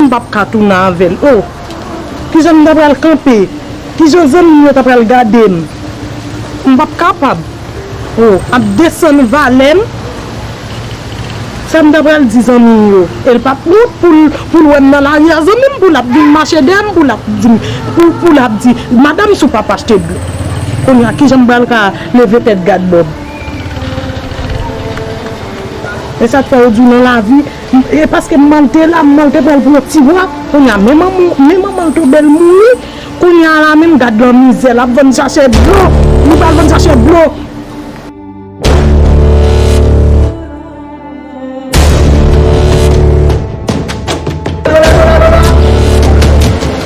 M pap ka tounen avè l oh. Kijan m ta pral kanpe? Kijan zanmi m yo ta pral gade m? M pap kapab oh. Ap desann valè m. Sa m ta pral di zanmi m yo? E l pap wont pou l pou l wè m nan lari a zanmi m pou l ap vin mache dèyè m pou l ap di m pou l ap di madanm si w pa p achte dlo. Kounye a kijan m pral ka leve tèt gad bò m? E sa k fè yo di w nan lavi. E paske mmanl te la mmanl te pranl pou yon ti bwa kounya men manmanl tou bel mouri kounya la menm gad lan mizè lap vann sachè dlo li pral vann sachè dlo.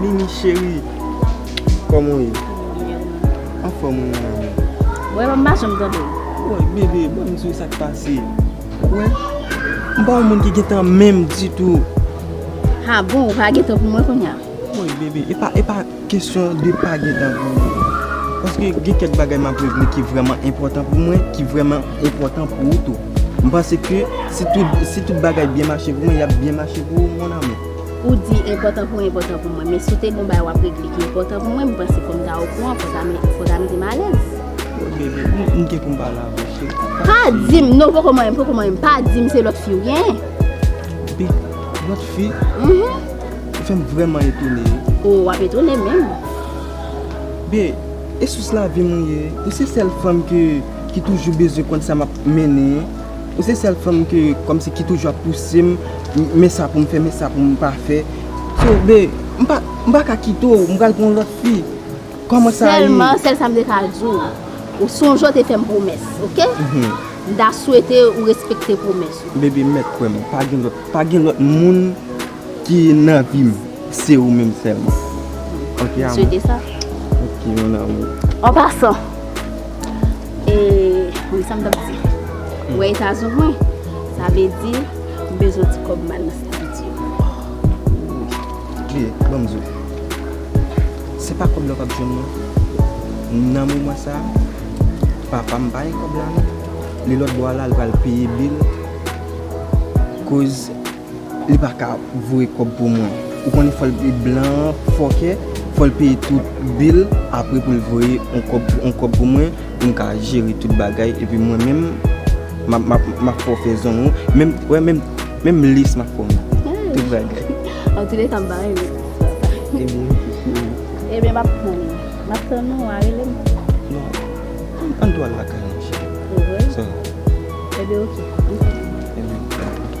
Mimi cheri Koman ou ye? Anfòm ou nan lanmou? Wè m pa janm tande w. Woy bebe ba m di w sa k pase. Wè m pa yon moun ki gen tan menm ditou. Ha bon ou pa gen tan pou mwen kounya? Woy bebe e pa e pa. Kesyon de pa gen tan pou ou. Paske gen kèk bagay m ap regle ki vrèman enpòtan pou mwen, ki vrèman enpòtan pou ou tou. M panse ke si tout si tout bagay byen mache pou mwen, y ap byen mache pou ou mon amour. Ou di enpòtan pou ou enpòtan pou mwen, men si w te gen yon bagay w ap regle ki enpòtan pou mwen, m panse fò m ta okouran, fò ta fò ta mete m alèz. Bon bebe, m gen pou m pale avè w cheri. Pa di m, non poko marye m, poko marye m, pa di m se lòt fi ou genyen. Bi, lòt fi? Mh. Ou fèm vrèman etone. Ou ap etone menm. Byen, e sous lavi m ou ye. Ou se sèl fanm ke ki toujou bezwen konn sa map mennen. Ou se sèl fanm ke kòmsi ki toujou ap pouse m men sa pou m fè, men sa pou m pa fè. So byen, m pa, m pa ka kite w, m pral gen yon lòt fi. Kòman sa ye? Sèlman, sèl sa m te ka di w, ou sonje w te fè m pwomès, oke? M ta swete ou respekte pwomès ou. Bebe, mèt kwè m, pa gen lòt, pa gen lòt moun. Ki nan vim se ou menm selman. Ok amour. En passant Eee sam tap di Ou wè eta zong mwen sa vle di m bezwen ti kob mal nan sèvant yo. Kle banm di w se pa kob la w pap jwenn non nan moman sa papam pa gen kob la non li lòtbò a la li pral peye bil koz. Li paka voye kòb pou mwen. Ou konnen fòl li blan an fòkè fòl peye tout bil apre poul voye yon kòb pou mwen poum ka jere tout bagay epi mwen menm map fè w fè zong ou wè menm lace map fè w met tout bagay. Antoulèka m pa renmen ti istwa sa. Ebyen ebyen map tann ou map tann ou wa rele m. Non ann tou al lakay mwen cheri. Ou vre? Ebyen ok ann fè sa.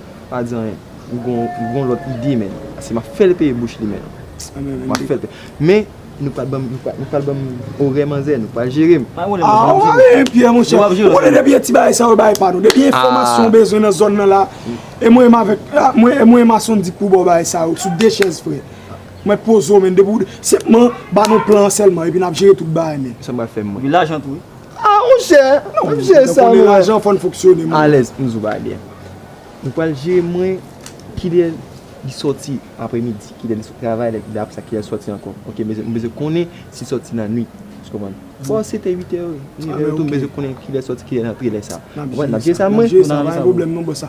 Pa di anyen ou gon lot ide menn ase map fel peye bouch li menn map fel peye men nou pral banm nou pral banm orè manzè nou pral jerem. Aah ou ale en pye mon chè ou konnen depi e ti bagay sa yo bagay pa nou depi enfomasyon ou bezwen nan zòn nan la e mwen avek e mwen e mason dik pou baw bagay sa yo sou de chèz frè mwen poze w menn depi ou de senpman ba nou plan an selman epi nap jere tout bagay menn. Sa pral fem mwen. Epi lajan tou wi. Ah mon chè, nan wap jere sa mwen. Nan konnen lajan fòn fonksyone mwen. Alèz m zou bagay byen. Nou pral jere mwen kilè li sòti aprè midi, kilè li sot travay lè kilè aprè sa kilè li sòti ankò. Ok m bezwen m bezwen konnen si l sòti nan nwit. Ou konprann? Bon si se te 8 è, 9 è m bezwen konnen kilè l sòti kilè l antre lè sa. Nap jere sa mwen. Nap jere sa pa gen pwoblèm non bòs.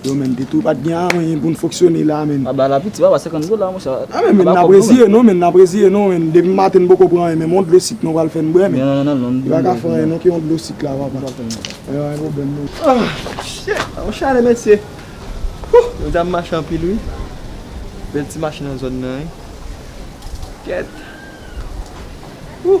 Yo menn pito ou pat gen anyen poun foksyone la menn. Aba la piti aba 50 gola monchè. A menn menn nap reziye non menn nap reziye non menn depi maten poko pran anyen menm yon dlo sik non pral fèn bwè menn. Non non non. Yo paka fè anyen non ke yon dlo sik la papa. Yo gen pwoblèm non. Ah shit yon chalè mesye. Hoo jodi a m mache anpil wi. Bèl ti mache nan zòn nan wi. Kèt. Hoo.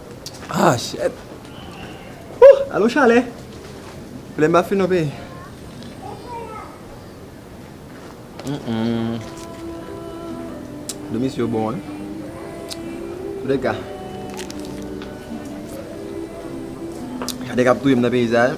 Ah shit Whoo Alo chalè Flem pa fin ok Domi sou yo bon hein Koulè ka Chalè kap touyem nan peyi sa hein.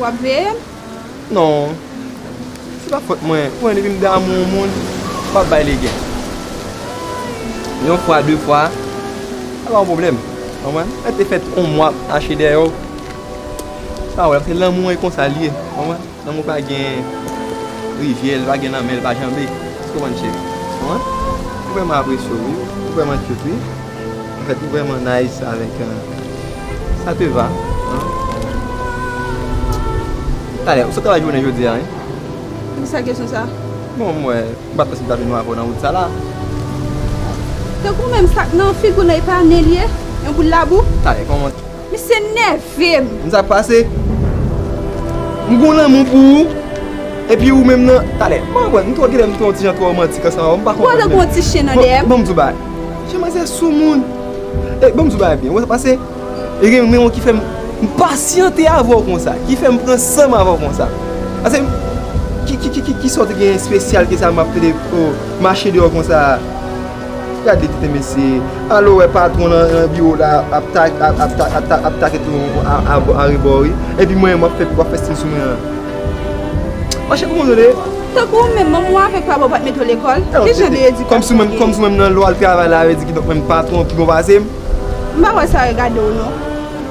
Wap veyel? Non, se pa fot mwen, ou konnen depi m damou yon moun, m pap bay legen. Yon fwa, de fwa, se pa yon pwoblèm, ou konprann? Lè te fèt yon mwa ap mache dèyè w, se pa yon pwoblèm, paske lanmou an e konsa l ye, ou konprann? Lanmou pa gen rivyè, li pa gen lanmè, li pa janbe, èske w konprann cheri? Ou konprann? Ou vrèman apresye w wi, ou vrèman kyout wi. Fèt ou vrèman nice avèk sa te va an Talè ou sot travay jounen jodi a wi Pou sa kesyon sa Bon m wè m pa t panse m ta jwenn yon avè w nan wout sa la Tankou menm sak nan figi w nan e pa nen l ye yon boul labou Talè kòman. Misye nèvem. Konn sak pase? M gon lanmou pou ou epi ou menm nan talè. M pa konprann, m twò genlè m twò yon ti jan twò romantik ansanm avèw m pa konprann menm. Ou antanke yon ti chen nan dèyèm. Bon, bon m di w bagay. Chen manzè sou moun. E bon m di w bagay byen, ou wè sak pase? E gen yon renmon ki fèm m pasyante avèw konsa, ki fèm pran sanm avèw konsa. Pase ki ki ki kisa w te gen espesyal ke sa map tande oh mache deyò konsa. Gade tenten mesye. Alo wè patron nan biro la ap take tout moun arebò wi. Epi mwen menm wap fè siy sou mwen an. Monchè kouman nou ye? Tankou ou menm, manman w avèk papa w pa t mete w lekòl? Ki jan de edikasyon ou gen? Kòmsi ou menm nan lwa al travay la, yo di kidonk mwen menm patron w pi bon pase m? M pa wè sa regade w non.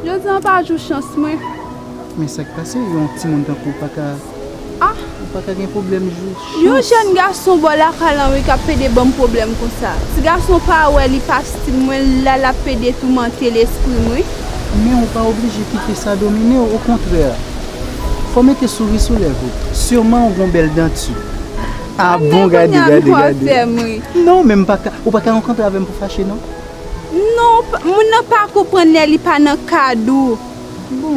Jodi an pa jou chans mwen. Men sak pase yon timoun tankou w paka ou paka gen pwoblèm jou chans. Yon jèn gason bò lakay lan wi kap pede banm pwoblèm konsa. Ti gason pa wè li pa stil mwen la lap pede toumante lesprim wi. Men ou pa oblije kite sa domine w okontrè fò w mete souri sou lèv ou. Surman ou gon bèl danti. Ah bon gade gade gade. Non men ou paka rankontre avèm pou fache non. Non moun nan pa konprann lè li pa nan kad ou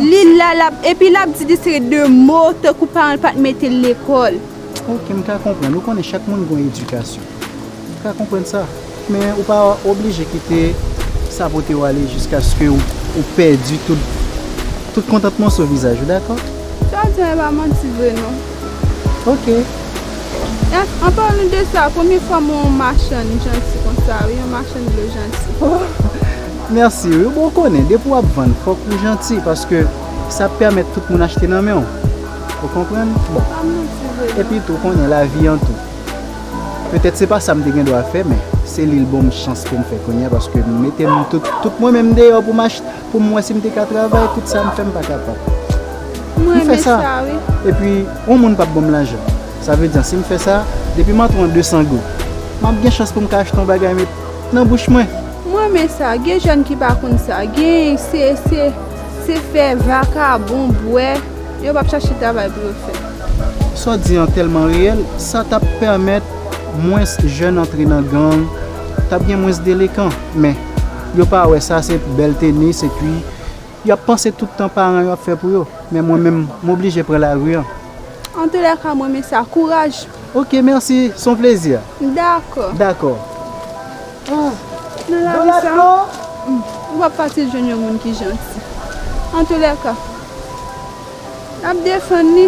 li la lap epi lap di li se de mo tankou paran l pat mete l lekòl. Ok m ka konprann ou konnen chak moun gon edikasyon m ka konprann sa men ou pa oblije kite sa pote w ale jiskaske ou pèdi tout kontantman sou vizaj ou dakò. Sa w di an e pa manti vre non. Ok. An palan de sa, premye fwa m wè yon machann janti konsa wi, yon machann dlo janti. Oh! Mèsi wi. Bon ou konnen, depi w ap vann fòk ou janti paske sa ap pèmèt tout moun achte nan men w. Ou konprann? Bon. Pa manti vre non. Epi tou, ou konnen lavi an tou. Petèt se pa sa m te gen dwa fè men se li l bon m chans ke m fè kounye a paske m mete m tout mwen menm deyò pou m achte. pou m wè si m te ka travay tout sa m fè m pa kapab. M renmen sa wi. Epi yon moun pap banm lajan. Sa vle di an si m fè sa, depi m antre yon 200 goud, m ap gen chans pou m ka achte yon bagay met nan bouch mwen. M renmen sa. Gen jèn ki pa konn sa. Gen se se se fè vakabon, bwè. Yo pap chache travay pou yo fè. Sa w di an tèlman reyèl. Sa t ap pèmèt mwens jèn antre nan gang. T ap gen mwens delekan. Men. Yo pa wè sa se bèl tenis epi yo ap panse tout tan paran yo ap fè pou yo. Men mwen menm m oblije pran lari an. Antoulèka m renmen sa. Kouraj! Ok mèsi, s on plezi. Dakò. Dakò. Nan lavi sa a, ou pa p fasil jwenn yon moun ki janti. Antoulèka, n ap defann li.